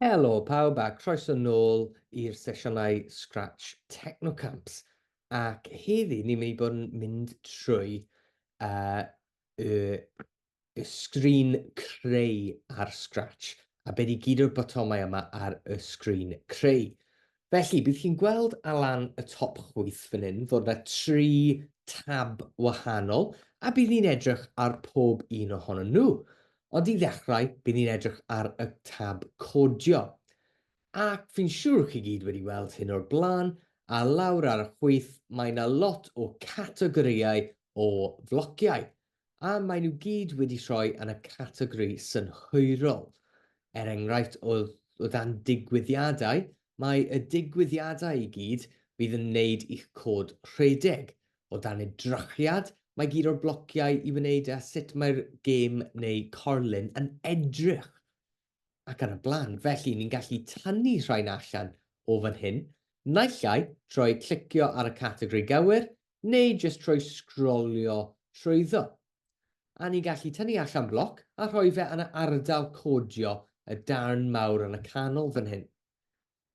Helo pawb a croeso nôl i'r sesiynau Scratch Technocamps ac heddi ni'n mynd i bod yn mynd trwy uh, y, y sgrin creu ar Scratch a beth i gyd o'r botomau yma ar y sgrin creu. Felly, bydd chi'n gweld ar lan y top chwith fan hyn fod 'na tri tab wahanol, a bydd ni'n edrych ar pob un ohonyn nhw. Ond i ddechrau, bydd ni'n edrych ar y tab codio. Ac fi'n siŵr chi gyd wedi weld hyn o'r blaen, a lawr ar y chwith mae 'na lot o categorïau o flociau. a maen nhw gyd wedi rhoi yn y categori synhwyrol. Er enghraifft, o, o dan digwyddiadau, mae y digwyddiadau i gyd fydd yn wneud i'ch cod rhedeg. O dan edrychiad, mae gyd o'r blociau i wneud â sut mae'r gêm neu corlun yn edrych ac yn y blaen. Felly, ni'n gallu tynnu rhain allan o fan hyn, naill ai trwy clicio ar y categori gywir neu jyst trwy sgrolio trwyddo. A ni'n gallu tynnu allan bloc a rhoi fe yn y ardal codio y darn mawr yn y canol fan hyn.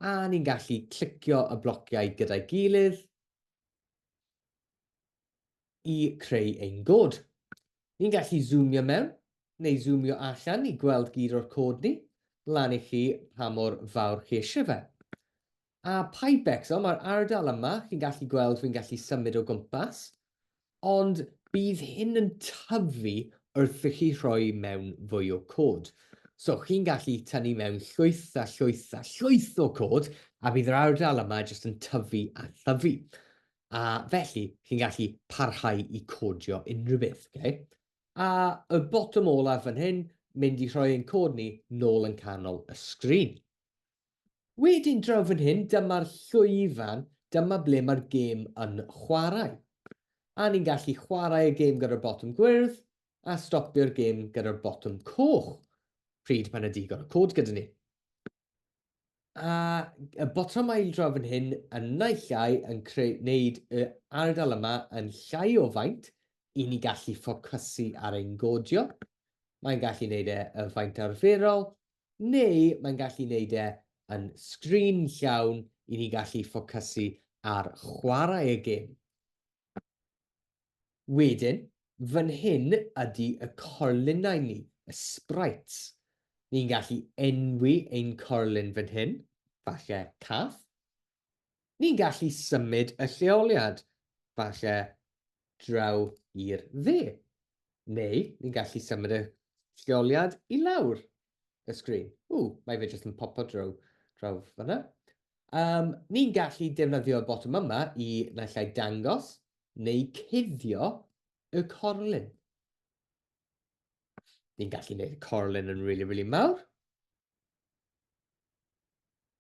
A ni'n gallu clicio y blociau gyda'i gilydd i creu ein god. Ni'n gallu zoomio mewn neu zoomio allan i gweld gyd o'r cod ni, lan i chi pa mor fawr chi eisiau fe. A Pipex, so mae'r ardal yma, chi'n gallu gweld fi'n gallu symud o gwmpas, ond bydd hyn yn tyfu wrth i chi rhoi mewn fwy o cod. So chi'n gallu tynnu mewn llwyth a llwyth a llwyth o cod, a bydd yr ardal yma jyst yn tyfu a thyfu. A felly, chi'n gallu parhau i codio unrhyw beth. Okay? A y bottom olaf fan hyn, mynd i rhoi ein cod ni nôl yn canol y sgrin. Wedyn draw fan hyn, dyma'r llwyfan, dyma ble mae'r gêm yn chwarae. A ni'n gallu chwarae y gêm gyda'r botwm gwyrdd, a stopio'r gêm gyda'r botwm coch, pryd mae yna digon o cod gyda ni. A y botymau draw fan hyn yn naill ai yn creu, wneud y ardal yma yn llai o faint i ni gallu ffocysu ar ein godio. Mae'n gallu wneud e y faint arferol, neu mae'n gallu neud e yn sgrin llawn i ni gallu ffocysu ar chwarae y gêm. Wedyn, fan hyn ydi y corlinau ni, y sprites. Ni'n gallu enwi ein corlin fan hyn, falle Cath, Ni'n gallu symud y lleoliad, falle draw i'r dde, neu ni'n gallu symud y lleoliad i lawr y sgrin. Ww, mae fe jyst yn popo draw, draw fanna. Um, ni'n gallu defnyddio'r botwm yma i naill ai dangos neu cuddio y corlun. Ni'n gallu gwneud y corlun yn really, really mawr.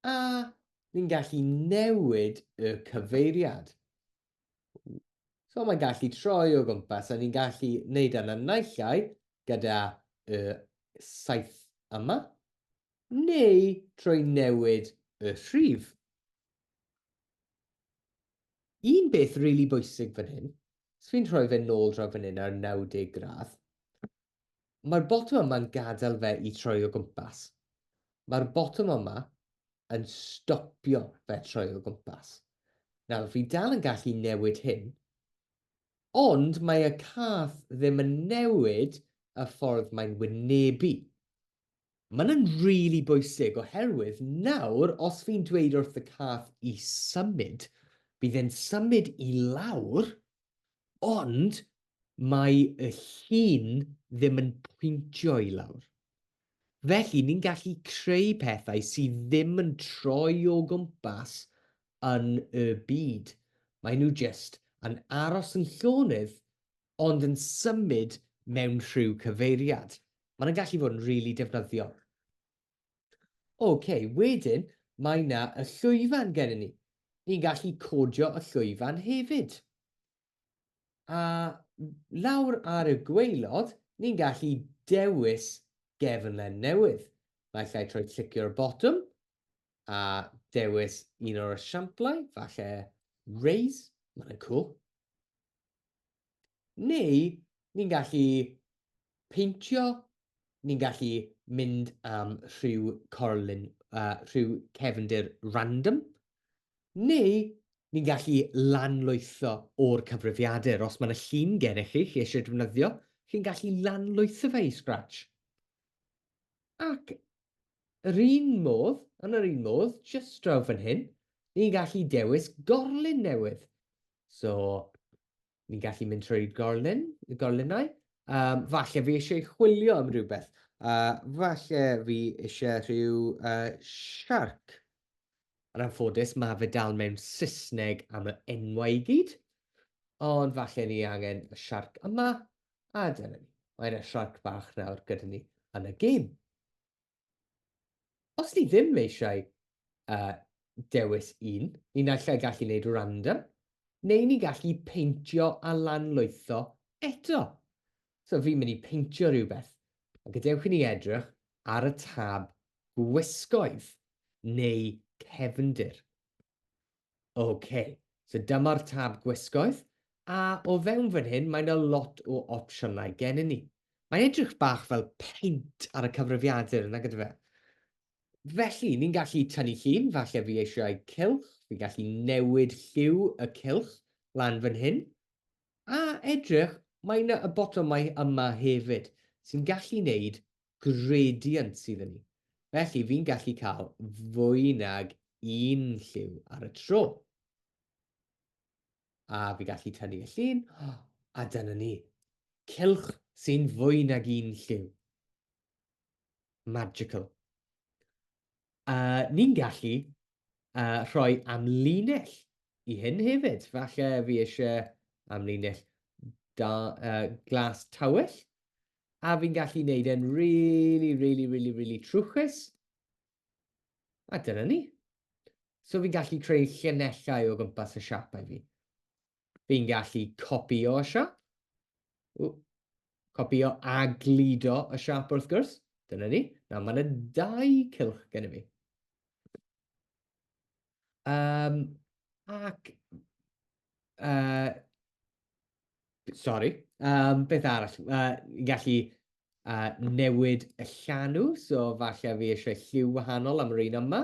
A ni'n gallu newid y cyfeiriad. So mae'n gallu troi o gwmpas a ni'n gallu wneud yna naillai gyda y saith yma, neu trwy newid y rhif. Un beth rili really bwysig fan hyn, os fi'n rhoi fe nôl draw fan hyn ar 90 gradd, Mae'r botwm yma'n gadael fe i troi o gwmpas. Mae'r botwm yma yn stopio fe troi o gwmpas. Nawr, fi dal yn gallu newid hyn, ond mae y cath ddim yn newid y ffordd mae'n wynebu. Mae'n yn really bwysig oherwydd nawr os fi'n dweud wrth y cath i symud, bydd e'n symud i lawr, ond mae y llun ddim yn pwyntio i lawr. Felly, ni'n gallu creu pethau sydd ddim yn troi o gwmpas yn y byd. Mae nhw just yn aros yn llonydd ond yn symud mewn rhyw cyfeiriad. Mae'n gallu fod yn rili really defnyddiol. OK, wedyn mae yna y llwyfan gennym ni. Ni'n gallu codio y llwyfan hefyd. A lawr ar y gweilod, ni'n gallu dewis gefnlen newydd. Mae lle troi clicio'r botwm a dewis un o'r esiamplau, falle raise, mae'n cool. Neu ni'n gallu peintio, ni'n gallu mynd am rhyw corlun, uh, rhyw cefndir random, neu ni'n gallu lanlwytho o'r cyfrifiadur. Os mae'n y llun gennych chi, chi eisiau defnyddio, chi'n gallu lanlwytho fe i Scratch. Ac Yr un modd, yn yr un modd, jyst draw fan hyn, ni'n gallu dewis gorlun newydd. So, ni'n gallu mynd trwy'r gorlun, y gorlunau. Um, falle fi eisiau chwilio am rhywbeth. Uh, falle fi eisiau rhyw uh, shark. Yn anffodus, mae fe dal mewn Saesneg am y enwau i gyd. Ond falle ni angen y shark yma, A dyna ni, mae yna siarc bach nawr gyda ni yn y gêm. Os ni ddim eisiau uh, dewis un, ni'n allai gallu gwneud random, neu ni'n gallu peintio a lanlwytho eto. So fi'n mynd i peintio rhywbeth, a gadewch i ni edrych ar y tab gwisgoedd neu cefndir. OK, so dyma'r tab gwisgoedd, a o fewn fan hyn mae yna lot o opsiynau gennym ni. Mae'n edrych bach fel paint ar y cyfrifiadur yna gyda fe. Felly, ni'n gallu tynnu llun, falle fi eisiau cylch, fi'n gallu newid lliw y cylch lan fan hyn. A edrych, mae yna y botomau yma hefyd, sy'n gallu wneud gradient sydd yn ni. Felly, fi'n gallu cael fwy nag un lliw ar y tro. A fi gallu tynnu y llun, a dyna ni. Cilch sy'n fwy nag un lliw. Magical. Uh, ni'n gallu uh, rhoi amlinell i hyn hefyd. Falle fi eisiau amlinell da, uh, glas tawell. a fi'n gallu neud e'n really, really, really, really trwchus. A dyna ni. So fi'n gallu creu llinellau o gwmpas y siapau fi. Fi'n gallu copio y siap. Copio a glido y siap wrth gwrs. Dyna ni. Nawr mae yna dau cylch gen i fi. Um, ac uh, Sorry. Um, beth arall? Uh, gallu uh, newid y llanw, so falle fi eisiau lliw wahanol am yr un yma.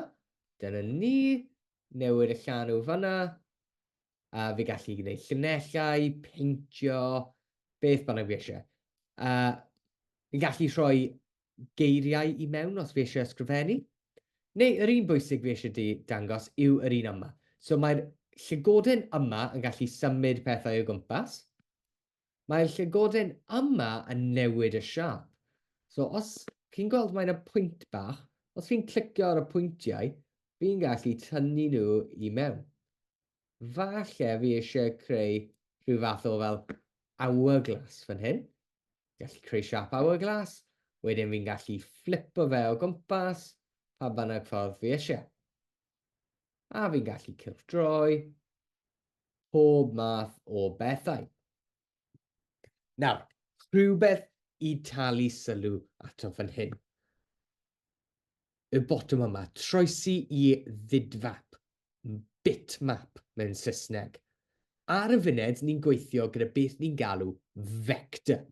Dyna ni. Newid y llanw fanna. A uh, fi gallu gwneud llunellau, peintio, beth bynnag fi eisiau. Uh, fi gallu rhoi geiriau i mewn os fi eisiau ysgrifennu, neu yr un bwysig fi eisiau di dangos yw yr un yma. So mae'r llygoden yma yn gallu symud pethau o gwmpas. Mae'r llygoden yma yn newid y siap. So os chi'n gweld mae yna pwynt bach, os fi'n clicio ar y pwyntiau, fi'n gallu tynnu nhw i mewn. Falle fi eisiau creu rhyw fath o fel hourglass fan hyn. gallu creu siap hourglass, wedyn fi'n gallu flipo fe o gwmpas pa bynnag ffordd fi eisiau. A fi'n gallu cylchdroi pob math o bethau. Nawr, rhywbeth i talu sylw ato fan hyn. y botwm yma, troesi i fidfap, bitmap mewn Saesneg. Ar y funed, ni'n gweithio gyda beth ni'n galw fector.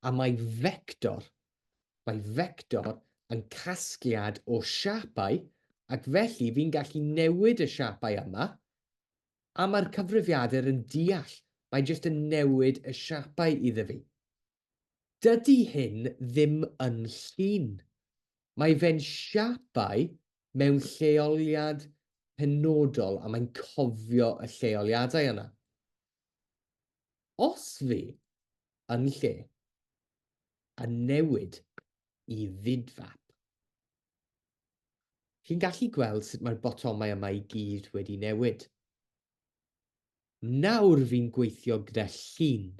A mae fector, mae fector yn casgliad o siapau, ac felly fi'n gallu newid y siapau yma, a mae'r cyfrifiadur yn deall, mae jyst yn newid y siapau iddo fi. Dydy hyn ddim yn llun. Mae fe'n siapau mewn lleoliad penodol a mae'n cofio y lleoliadau yna. Os fi, yn lle, yn newid i fidfap, chi'n gallu gweld sut mae'r botomau yma i gyd wedi newid. Nawr fi'n gweithio gyda llun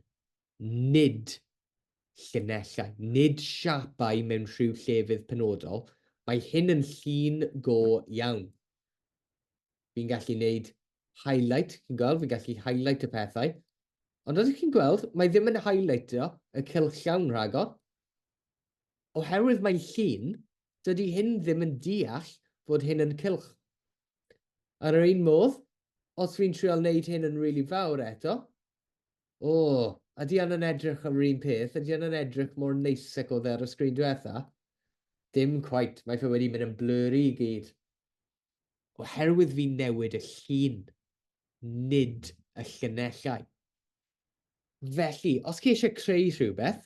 nid llinellau, nid siapau mewn rhyw llefydd penodol, mae hyn yn llun go iawn. Fi'n gallu gwneud highlight, chi'n gweld, fi'n gallu highlight y pethau. Ond oeddech chi'n gweld, mae ddim yn highlightio y cylchawn rhagor. Oherwydd mae'n llun, dydy hyn ddim yn deall fod hyn yn cylch. Ar yr un modd, os fi'n trial wneud hyn yn rili really fawr eto, O! Ydy hwn yn edrych yr un peth? Ydy hwn yn edrych mor neis ac oedd e ar y sgrin diwetha? Dim cweit, mae fe wedi mynd yn blurry i gyd. Oherwydd fi'n newid y llun, nid y llunellau. Felly, os chi eisiau creu rhywbeth,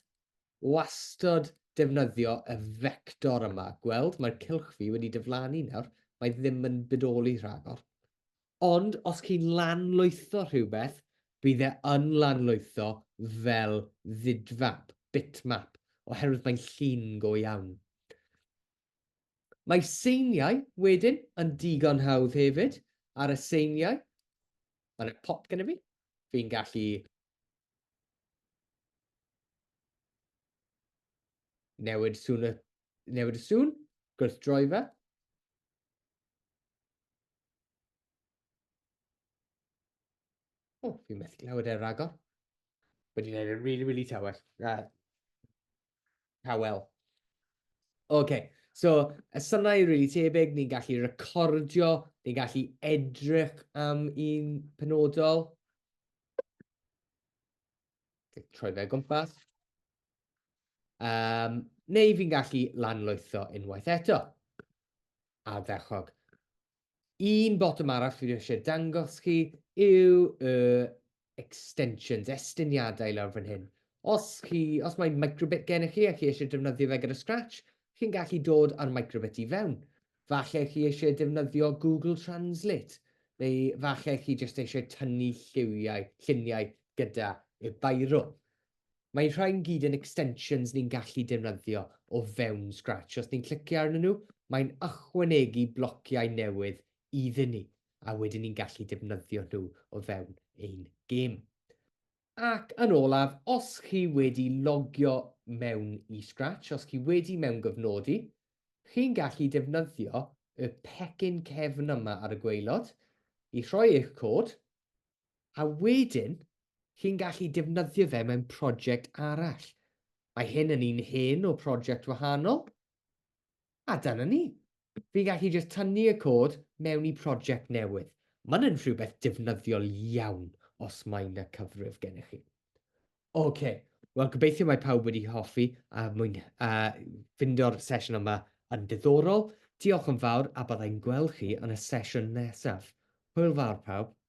wastod defnyddio y fector yma. Gweld, mae'r cylch fi wedi diflannu nawr, mae ddim yn budoli rhagor. Ond os chi'n lanlwytho rhywbeth, bydd e yn lanlwytho fel ddidfap, bitmap, oherwydd mae'n llun go iawn. Mae seiniau, wedyn, yn digon hawdd hefyd. Ar y seiniau, mae yna pop gyda fi. Fi'n gallu newid sŵn y, newid y sŵn, gwrthdroi fe. O, fi methu clywed e ragor. Wedi gwneud e'n really, really tawel. Uh, tawel. OK, so y synau rili really tebyg, ni'n gallu recordio, ni'n gallu edrych am un penodol. Troi fe gwmpas. Um, neu fi'n gallu lanlwytho unwaith eto. ardderchog. Un botwm arall fi eisiau dangos chi yw y extensions, estyniadau lawr fan hyn. Os, chi, os mae microbit gennych chi a chi eisiau defnyddio fe gyda Scratch, chi'n gallu dod ar microbit i fewn. Falle chi eisiau defnyddio Google Translate, neu falle chi jyst eisiau tynnu lliwiau, lluniau gyda y bairo. Mae rhain gyd yn extensions ni'n gallu defnyddio o fewn Scratch. Os ni'n clicio arnyn nhw, mae'n ychwanegu blociau newydd iddyn ni, a wedyn ni'n gallu defnyddio nhw o fewn ein gêm. Ac yn olaf, os chi wedi logio mewn i Scratch, os chi wedi mewn gyfnodi, chi'n gallu defnyddio y pecyn cefn yma ar y gweilod i rhoi eich cod, a wedyn chi'n gallu defnyddio fe mewn prosiect arall. Mae hyn yn un hen o prosiect wahanol, a dyna ni. Fi'n gallu jyst tynnu y cod mewn i prosiect newydd. Mae'n yn rhywbeth defnyddiol iawn os mae na cyfrif gennych chi. OK, wel gobeithio mae pawb wedi hoffi a mwyn a ffindo'r sesiwn yma yn diddorol. Diolch yn fawr a byddai'n gweld chi yn y sesiwn nesaf. Hwyl fawr pawb.